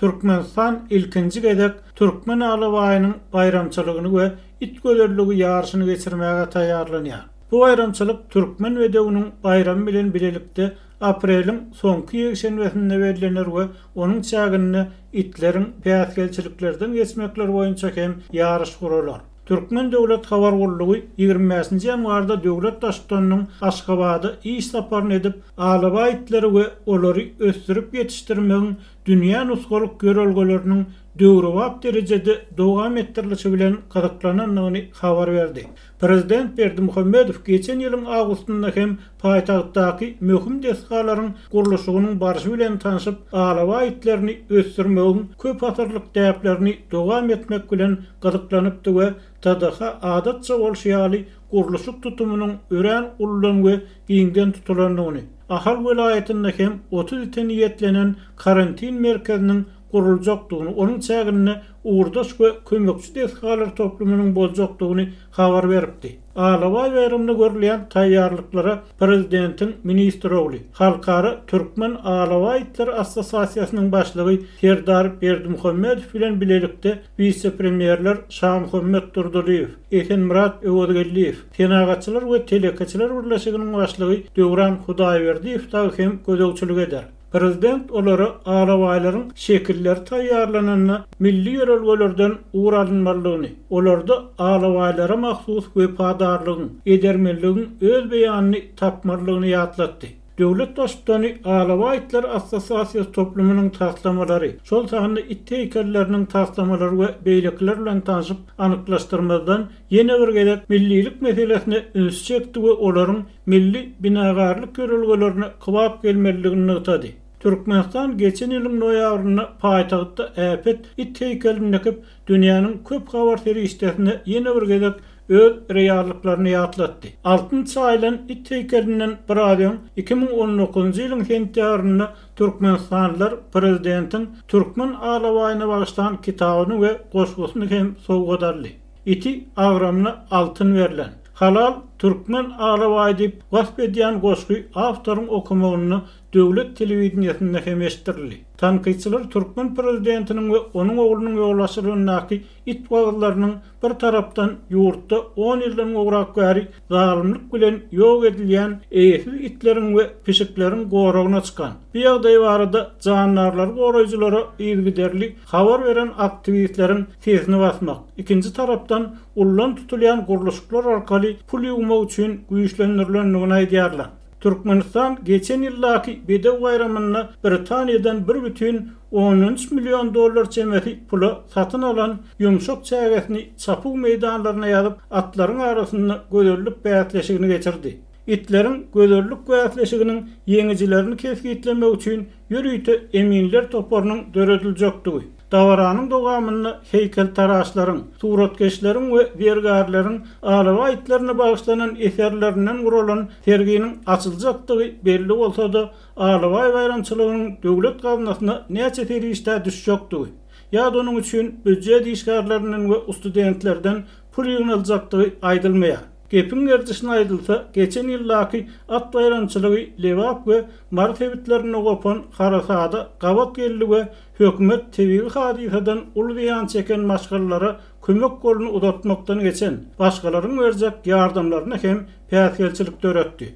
Türkmenistan ilkinji gezek Türkmen alabaýynyň baýramçylygyny we it gözelligi ýaryşyny geçirmäge taýýarlanýar. Bu baýramçylyk Türkmen bedewiniň baýramy bilen bilelikde apreliň soňky ýekşenbesinde bellener we onuň çäginde itleriň päsgelçiliklerden geçmekleri boýunça hem ýaryş guralar. Türkmen döwlet habar gullugy ýigrimi bäşinji ýanwarda döwlet baştutanynyň Aşgabada iş saparyny edip, alabaý itleri we olary ösdürip ýetişdirmegiň dünýä nusgalyk ýörelgeleriniň döwrebap derejede dowam etdirilişi bilen gyzyklanandygyny habar berdi. Prezident Berdimuhamedow geçen ýylyň awgustynda hem paýtagtdaky möhüm desgalaryň gurluşygynyň barşy bilen tanşyp, alabaý itlerini ösdürmegiň köpasyrlyk däplerini dowam etmek bilen gyzyklanypdy we TDH adatça bolşy ýaly gurluşyk tutumynyň örän uludan we giňden tutulandygyny, Ahal welaýatynda hem otuz ite niýetlenen karantin merkeziniň guruljakdygyny, onuň çäginde ugurdaş we kömekçi desgalar toplumynyň boljakdygyny habar beripdi. Alabaý baýramyna görülýän taýýarlyklara prezidentiň ministr ogly, Halkara türkmen alabaý itleri assosiasiýasynyň başlygy Serdar Berdimuhamedow bilen bilelikde wise-premýerler Şamuhammet Durdylyýew, Esenmyrat Öwezgeldiýew, Senagatçylar we telekeçiler birleşiginiň başlygy Döwran Hudaýberdiýew dagy hem gözegçilik eder. Prezident olara alabaýlaryň şekilleri taýýarlananda milli ýörelgelerden ugur alynmalydygyny, olarda alabaýlara mahsus wepadarlygyň, edermenligiň öz beýanyny tapmalydygyny ýatlatdy. Döwlet Baştutany Alabaý itler assosiasiýasy toplumynyň taslamalary, şol sanda it heýkelleriniň taslamalary we beýlekiler bilen tanşyp, anyklaşdyrmazdan ýene bir gezek millilik meselesine ünsi çekdi we olaryň milli binagarlyk ýörelgelerine kybap gelmelidigini nygtady. Türkmenistan geçen ýylyň noýabrynda paýtagtda äpet it heýkelini dikip, dünýäniň köp habar serişdesine ýene bir gezek öz reallyklaryny ýatlatdy. Altyn çaýylan it heýkelinden biraz öň, iki müň on dokuzynjy ýylyň sentýabrynda türkmenistanlylar prezidentiň türkmen alabaýyna bagyşlan kitabyny we goşgusyny hem sowgat aldy. Iti agramyna altyn berlen. Halal Türkmen alabaýy diýip wasp edýän goşgy awtoryň okamagynda döwlet telewideniýesinde hem eşitdirildi. Tankytçylar türkmen prezidentiniň we onuň oglunyň ýolaşylygyndaky it wagyzlarynyň bir tarapdan ýurtda on ýyldan gowrak bäri zalymlyk bilen ýok edilýän eýesiz itleriň we pişikleriň goragyna çykan bu ýagdaý barada jandarlary goraýjylara yzygiderli habar beren aktiwistleriň sesini basmak, ikinji tarapdan ullan tutulýan gurluşyklar arkaly pul ýuwmak üçin güýçlendirilendigini aýdýarlar. Türkmenistan geçen ýyldaky Bedew baýramynda Britaniýadan bir bütin ondan üç million dollar çemesi pula satyn alan ýumşak çägesini çapuw meýdanlaryna ýazyp, atlaryň arasynda gözellik bäsleşigini geçirdi. Itleriň gözellik bäsleşiginiň ýeňijilerini kesgitlemek üçin ýörite eminler toparynyň dörediljekdigi, Dabaranyň dowamynda heýkeltaraşlaryň, suratkeşleriň we zergärleriň alabaý itlerine bagyşlanan eserlerinden guralan serginiň açyljakdygy belli bolsa-da, alabaý baýramçylygynyň döwlet gaznasyna näçe serişdä düşjekdigi ýa-da onuň üçin býujet işgärlerinden we ustudentlerden pul ýygnaljakdygy aýdylmaýar. Gepiň gerdişine aýdylsa, geçen ýyldaky at baýramçylygy Lebap we Mary sebitlerinde gopan harasada gabat geldi we Hökümet tebigy hadysadan uly zyýan çeken maşgalalara kömek goluny uzatmakdan geçen, başgalaryň berjek ýardamlaryna hem päsgelçilik döretdi.